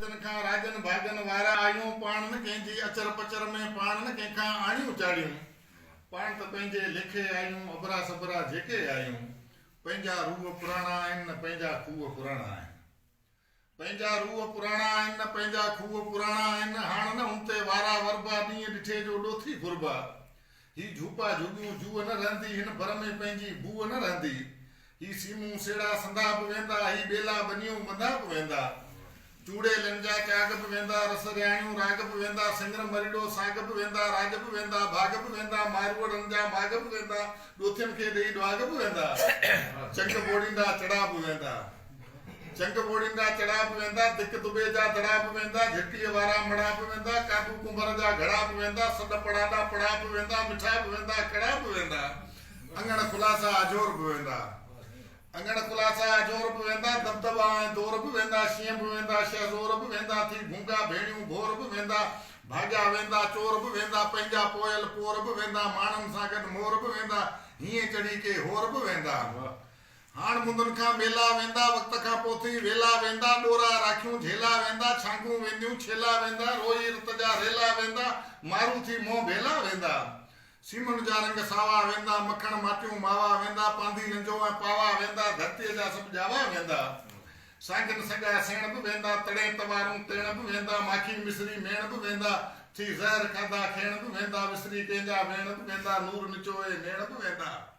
جن کان راڄن ڀاڳن وارا آهيون، پاڻ نه ڪنهن جي اچر پچر ۾، پاڻ نه ڪنهن کان آڻيون چاڙهيون، پاڻ ته پنهنجي ليکي آهيون، ابرا سبرا جيڪي آهيون، پنهنجا روح پراڻا آهن نه پنهنجا کوهه پراڻا آهن، پنهنجا روح پراڻا آهن نه پنهنجا کوهه پراڻا آهن، هاڻ نه هن تي وارا وربا، ڏينهن ڏٺي جو ڏوٿي ڦربا، هي جهوپا جهوڳيون جوء نه رهندي، هن بر ۾ پنهنجي بوء نه رهندي، هي سيمون سيڙا سندا به ويندا، هي ٻيلا ٻنيون ٻندا به ويندا، چوڙيلن جا چاڳ به ويندا، رس رياڻيون راڳ به ويندا، سنڱر مريڙو ساڳ به ويندا، راڄ به ويندا، ڀاڳ به ويندا، ماروئڙن جا ماڳ به ويندا، ڏوٿين کي ڏيئي ڏواڳ به ويندا، چنگ ٻوڙيندا چڙا به ويندا. چنگ ٻوڙيندا چڙا به ويندا، دڪ دٻي جا دڙا به ويندا، جهرڪليء وارا مڙا به ويندا، ڪاٻو ڪنڀر جا گهڙا به ويندا، سڏ پڙاڏا پڙا به ويندا، مٺا به ويندا، ڪڙا به ويندا، اڱڻ خلاصا اجهور به ويندا، اڱڻ خلاصا اجهور به ويندا، دٻدٻا ۽ دور به ويندا، شينهن به ويندا، شهزور به ويندا، ٿي گونگا ڀيڻيون ڀور به ويندا، ڀاڳيا ويندا چور به ويندا، پنهنجا پويل پور به ويندا، ماڻهن سان گڏ مور به ويندا، هينئين چڙهي ڪي هور به ويندا. هاڻ مندن کان ميلا ويندا، وقت کان پوء ٿي ويلا ويندا، ڏورا راکيون جهيلا ويندا، ڇانگون وينديون ڇيلا ويندا، روئي رت جا ريلا ويندا، مارو ٿي منهن ڀيلا ويندا. سيمن جا رنگ ساوا ويندا، مکڻ ماٽيون ماوا ويندا، پانڌي رنجو ۽ پاوا ويندا، ڌرتيء جا سڀ ڄاوا ويندا. سانگن سڳا سيڻ به ويندا، تڙين توارون تيڻ به ويندا، ماکي مصري ميڻ به ويندا، ٿي زهر کاڌا کيڻ به ويندا، وسري ڪنهن جا ويڻ به ويندا، نور نچوئي نيڻ به ويندا.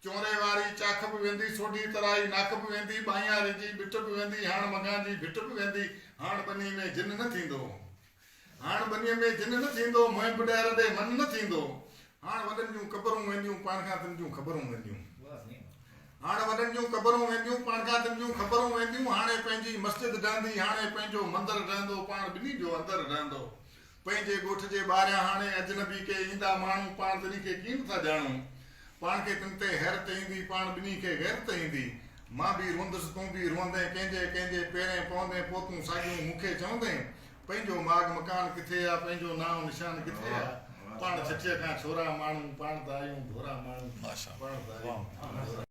چونري واري چاک به ويندي، سوڍي ترائي ناک به ويندي، ٻانهياري جي ٻٽ به ويندي، هاڻ مگهان جي ڀٽ به ويندي، هاڻ ٻني ۾ جن نه ٿيندو، هاڻ ٻنيء ۾ جن نه ٿيندو، مهين پڏهر ڏي من نه ٿيندو، هاڻ وڏن جون قبرون وينديون، پاڻ کان تن جون خبرون وينديون، هاڻ وڏن جون قبرون وينديون، پاڻ کان تن جون خبرون وينديون، هاڻي پنهنجي مسجد ڊهندي، هاڻي پنهنجو مندر ڊهندو، پاڻ ٻني جو اندر ڊهندو. پنهنجي ڳوٺ جي ٻاهريان هاڻي اجنبي ڪي ايندا ماڻهو پاڻ تنهن کي ڪين ٿا ڄاڻون پاڻ کي تن تي حيرت ايندي پاڻ ٻنهي کي غيرت ايندي مان به روئندس تون به روئندين ڪنهن جي ڪنهن جي پيرين پوندين پو تون ساڳيون مون کي چوندين پنهنجو ماڳ مڪان ڪٿي آ پنهنجو نانء نشان ڪٿي آ پاڻ ڇٺيء کان ڇورا ماڻهو پاڻ ته آهيون ڀورا ماڻهو پاڻ ته آهيون